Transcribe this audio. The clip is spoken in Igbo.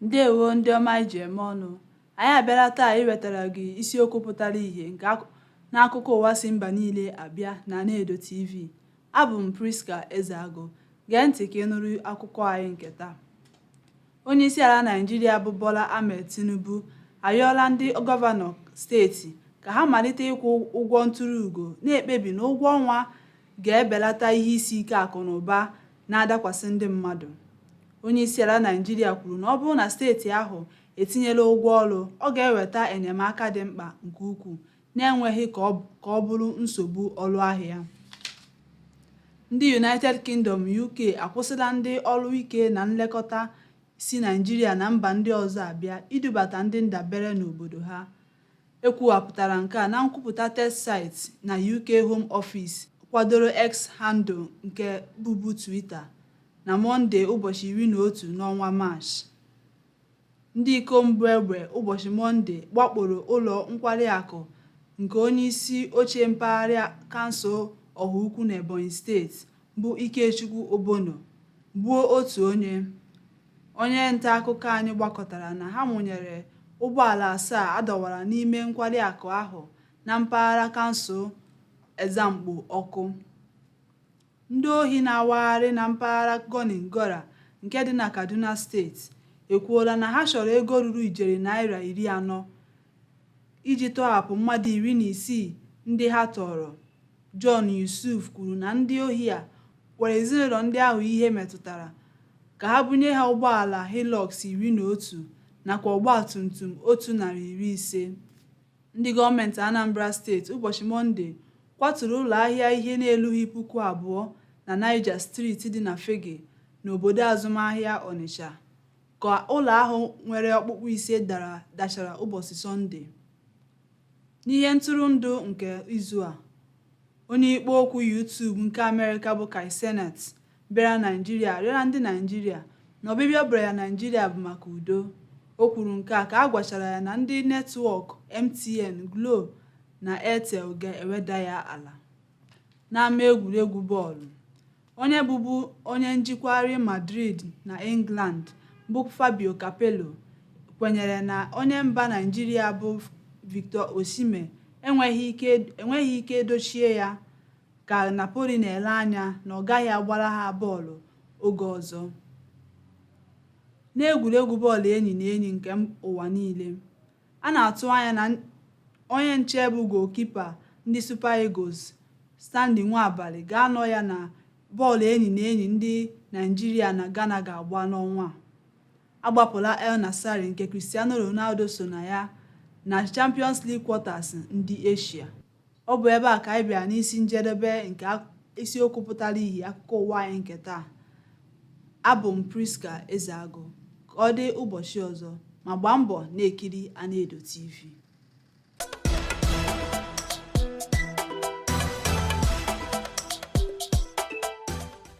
ndewo ndị ọma anyị ji eme ọnụ anyị abịala taa iwetara gị isiokwu pụtara ìhè nke n'akụkọ ụwa si mba niile abịa na Anaedo TV abụ m Priska Ezeagu gee ntị ka ị nụrụ akụkọ anyị nke taa Onyeisiala Naịjirịa bụ Bola Ahmed Tinubu ayọọla ndị gọvanọ steeti ka ha malite ịkwụ ụgwọ ntụrụ ugo na-ekpebi na ụgwọ ọnwa ga-ebelata ihe isi ike akụ na ụba na-adakwasị ndị mmadụ. Onyeisiala Naịjirịa kwuru na ọ bụrụ na steeti ahụ etinyela ụgwọ ọrụ, ọ ga-eweta enyemaka dị mkpa nke ukwuu na-enweghị ka ọ bụrụ nsogbu ọrụ ahịa. Ndị United Kingdom, UK, akwụsịla ndị ọrụ ike na nlekọta si Naịjirịa na mba ndị ọzọ abịa idubata ndị ndabere n'obodo ha. E kwuwapụtara nke a na nkwupụta terse site na UK Home Office kwadoro X handle nke bụbu Twitter na Mọnde ụbọchị iri na otu n'ọnwa Maachị. Ndị ikom bu egbe ụbọchị Mọnde wakporo ụlọ nkwari akụ nke onyeisi oche mpaghara kansụl Ọhaukwu n'Ebonyi steeti bụ Ikechukwu Odono, gbuo otu onye. Onye ntaakụkọ anyị gbakọtara na ha mụnyere ụgbọala asaa a dọwara n'ime nkwari akụ ahụ na mpaghara kansụl Ezzamgbo ọkụ. Ndị ohi na-awagharị na mpaghara Gonin Gora nke dị na Kaduna steeti ekwuola na ha chọrọ ego ruru ijeri naira iri anọ iji tọhapụ mmadụ iri na isii ndị ha tọọrọ. John Yusuf kwuru na ndị ohi a gwara ezinụlọ ndị ahụ ihe metụtara ka ha bunye ha ụgbọala Hilux iri na otu nakwa ọgbatumtum otu narị iri ise. Ndị gọọmenti Anambra steeti ụbọchị Mọnde kwaturu ụlọahịa ihe na-elughị puku abụọ na Niger Street dị na Fegge n'obodo azụmahịa Ọnịcha ka ụlọ ahụ nwere ọkpụkpụ ise dara dachara ụbọchị Sọnde. N'ihe ntụrụndụ nke izu a, onye ikpo okwu YouTube nke Amerịka bụ Kai Cenat bịara Naịjirịa arịọla ndị Naịjirịa na ọbịbịa ọ bịara ya Naịjirịa bụ maka udo. O kwuru nke a ka a gwachara ya na ndị netwọk MTN, Glo na Airtel ga-eweda ya ala. N'ama egwuregwu bọọlụ, onye bụbu onye njikwa Real Madrid na England bụ Fabio Capello kwenyere na onye mba Naịjirịa bụ Victor Osimhen enweghị ike dochie ya ka Napoli na-ele anya na ọ gaghị agbara ha bọọlụ oge ọzọ n'egwuregwu bọọlụ enyi na enyi nke ụwa niile a na-atụ anya na onye nche bụ goalkeeper ndị Super Eagles Stanley Nwabali ga-anọ ya na bọọlụ enyi na enyi ndị Naịjirịa na Ghana ga-agba n'ọnwa a agbapụla Al Nassr nke Cristiano Ronaldo so na ya na Champions League quarters ndị Asia Ọ bụ ebe a ka anyị bịara n'isi njedebe nke isiokwu pụtara ihe akụkọ ụwa anyị nke taa. Abụ m Priska Ezeagụ. Ka ọ dị ụbọchị ọzọ, ma gbaa mbọ na-ekiri Anaedo TV.